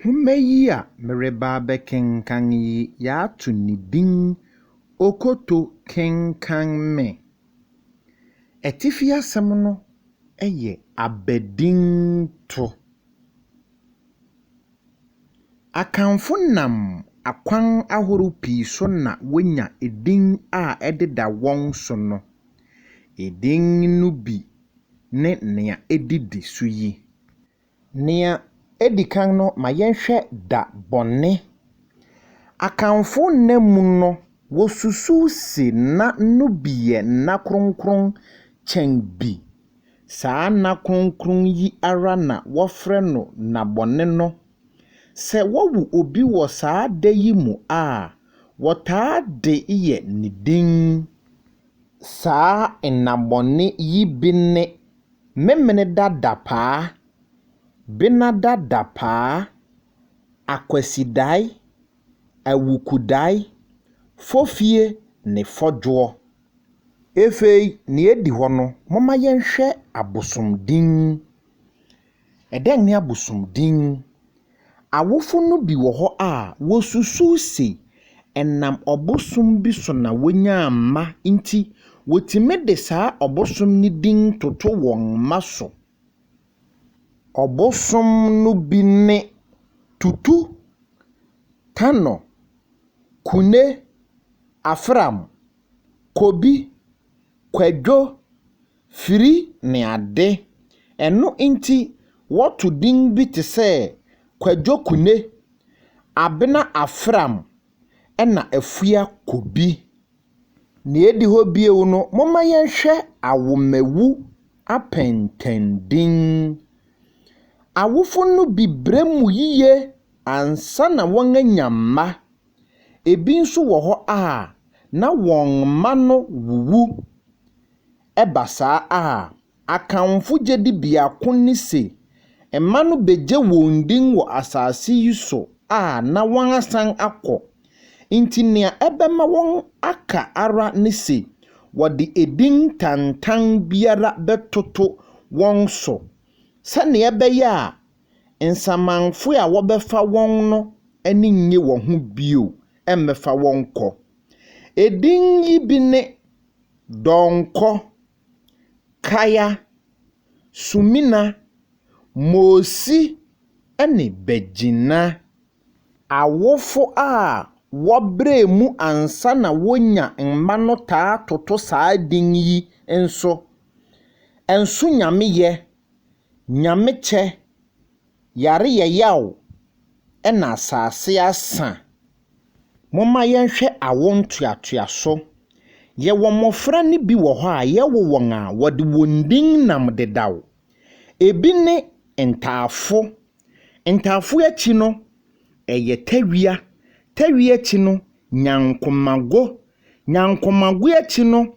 Nhoma yi a mereba abɛkenkan yi yɛato ne din Okoto Kenkan Me. Atifi asɛm no yɛ abadinto. Akanfo nam akwan ahorow pii so na wonya edin a ɛdeda wɔn so no. Edin no bi ne nea edidi so yi. Nea edi kan no, ma yɛnhwɛ da bɔne. Akanfo nna mu no, wosusuw se nna no bi yɛ nna kronkron kyɛn bi. Saa nna kronkron yi ara na wɔfrɛ no nna bɔne no. Sɛ wɔwo obi wɔ saa da yi mu a, wɔtaa de yɛ ne din. Saa nna bɔne yi bi ne Memeneda dapaa, Benada dapaa, Akwasidae, Awukudae, Fofie ne Fɔdwoɔ. Ɛfei nea ɛdi hɔ no, momma yɛnhwɛ abosom din. Dɛn ne abosomdin? Awofo no bi wɔ hɔ a, wosusuw se ɛnam ɔbosom bi so na wonyaa mma nti, wotumi de saa ɔbosom no din toto wɔn mma so. Ɔbosom no bi ne Tutu, Tano, Kune, Afram, Kobi, Kwadwo, firi ne ade. Ɛno nti wɔto din bi te sɛ Kwadwo Kune, Abena Afram ɛna Afua Kobi. Nea edi hɔ bio no, momma yɛnhwɛ Awomawu apɛntɛndin. Awofo no bi brɛ mu yiye ansa na wɔanya mma. Ebi nso wɔ hɔ a, na wɔn mma no wuwu. Ɛba saa a, Akanfo gyidi biako ne se mma no begye wɔn din wɔ asase yi so a na wɔasan akɔ. Enti nea ɛbɛma wɔaka ara ne se wɔde edin tantan biara bɛtoto wɔn so sɛnea ɛbɛyɛ a nsamanfo a wɔbɛfa wɔn no ani nnye wɔn ho bio mmɛfa wɔn nkɔ. Edin yi bi ne. Donkor, Kaya, Sumina, Mosi, ne Begina. Awofo a wɔbrɛɛ mu ansa na wonya mma no taa toto saa din yi nso, Nso Nyameyɛ, Nyamekyɛ, Yare yɛ yaw na asase asa. Momma yɛnhwɛ awo ntoatoaso. Yɛwɔ mmofra no bi wɔ hɔ a yɛwo wɔn a, wɔde wɔn din nam dedaw. Ebi ne Ntaafo. Ntaafo akyi no, ɛyɛ Tawia. Tawia akyi no, Nyankomago. Nyankomago akyi no,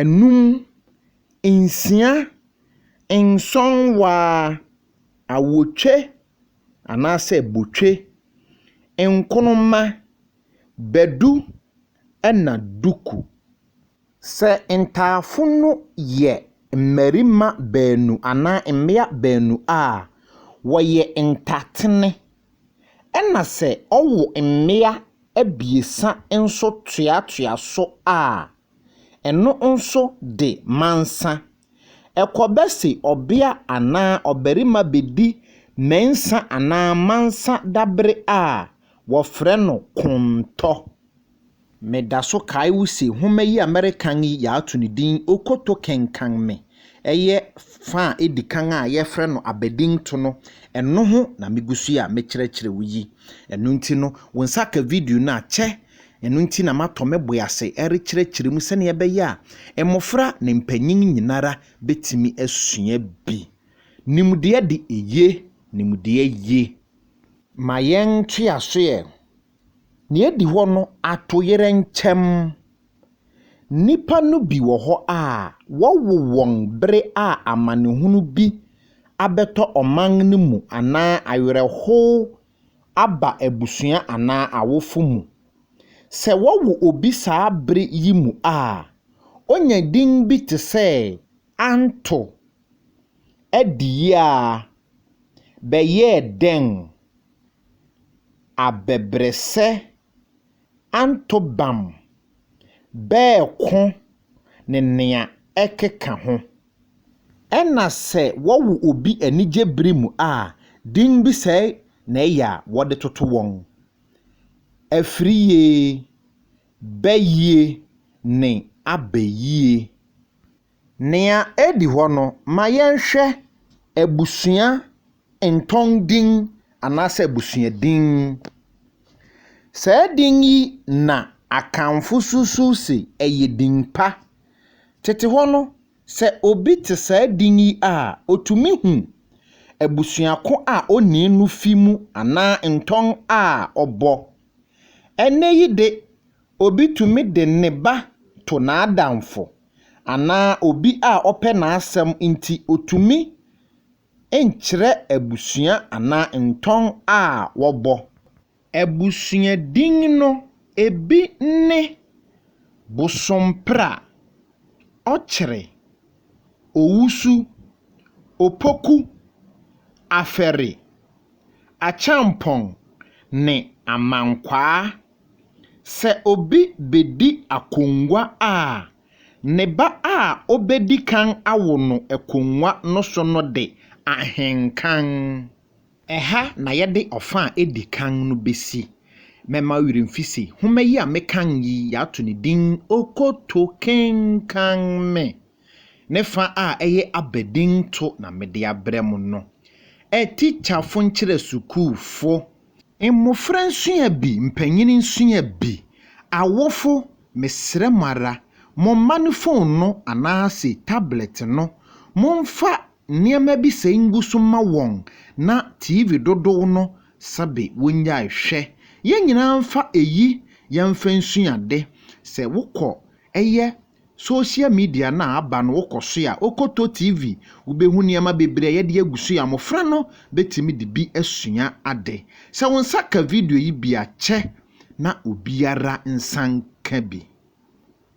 anum, nsia, nsɔn waa, awotwe anaasɛ botwe, nkonoma, badu ɛna duku. Sɛ ntaafo no yɛ mmarima baanu anaa mmea baanu a, wɔyɛ ntatene Ɛna sɛ ɔwo mmea abiɛsa nso toatoa so a, ɛno nso de mansa. Ɛkɔba se ɔbea anaa ɔbarima bedi mɛnsa anaa mansa dabere a, wɔfrɛ no kontɔ. Meda so kae wo se nhoma yi a merekan yi yɛato no din Okoto Kenkan Me. Ɛyɛ fa a edi kan a yɛfrɛ no abadinto no, ɛno ho na migu so yi a mekyerɛkyerɛ wo yi. Ɛno nti no, wo nsa ka video no a, kyɛ. Ɛno nti na matɔ me bo ase rekyerɛkyerɛ mu sɛnea ɛbɛyɛ a mmofra ne mpanyin nyinara betumi asua bi. Nimdeɛ de eye nimdeɛ ye. Ma yɛntoa so ɛ. Nea edi hɔ no, atoyerɛ nkyɛm. Nnipa no bi wɔ hɔ a, wɔwo wɔn bere a amanehunu bi abɛtɔ ɔman no mu anaa awerɛhow aba abusua anaa awofo mu. Sɛ wɔwo obi saa bere yi mu a, onya din bi te sɛ Anto. Adi yi ara, bɛyɛɛ dɛn abɛbrɛsɛ anto bam, bɛɛko ne nea ɛkeka ho. Ɛna sɛ wɔwo obi anigye bere mu a, din bi sɛe na ɛyɛ a wɔde toto wɔn, Afiriye, Bɛyie ne Abɛyie. Nea edi hɔ no, ma yɛnhwɛ abusua Ntɔn din anaasɛ abusua din. Saa din yi na Akanfo susuw se ɛyɛ din pa. Tete hɔ no, sɛ obi te saa din yi a, otumi hu abusua ko a onii no fi mu anaa ntɔn a ɔbɔ. Ɛnnɛyi de, obi tumi de ne ba to n'adamfo anaa obi a ɔpɛ n'asɛm nti otumi nkyerɛ abusua anaa ntɔn a wɔbɔ. Abusua din no bi ne Bosompra, Ɔkyere, Owusu, Opoku, Afɛre, Akyampɔn, ne Amankwaa. Sɛ obi bedi akongua a, Ne ba a obedi kan awo no akongua no so no de ahenkan. Ɛha na yɛde ɔfã a edi kan no besi. Mɛma wo werɛ mfi se nhoma yi a mekan yi, yɛato ne din Okoto Kenkan Me. Ne fã a ɛyɛ abadinto na mede abrɛ mo no. Atikyafo nkyerɛ sukuufo. Mmofra nsua bi, mpanyin nsua bi. Awofo, mesrɛ mo ara, mo mma no fon no anaase tablɛt no, momfa nneɛma bi sɛe ngu so mma wɔn na TV dodow no sɛbe wonnyae hwɛ. Yɛn nyinaa mfa eyi yɛmfa nsua ade. Sɛ wokɔ yɛ Social media no a aba no wokɔ so a, wokɔtɔ TV, wobɛhu nneɛma bebree a yɛde agu so yi a mmɔfra no bɛtumi de bi asua ade. Sɛ wo nsa ka video yi bi a, kyɛ na obiara nsa nka bi.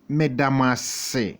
Meda mo ase.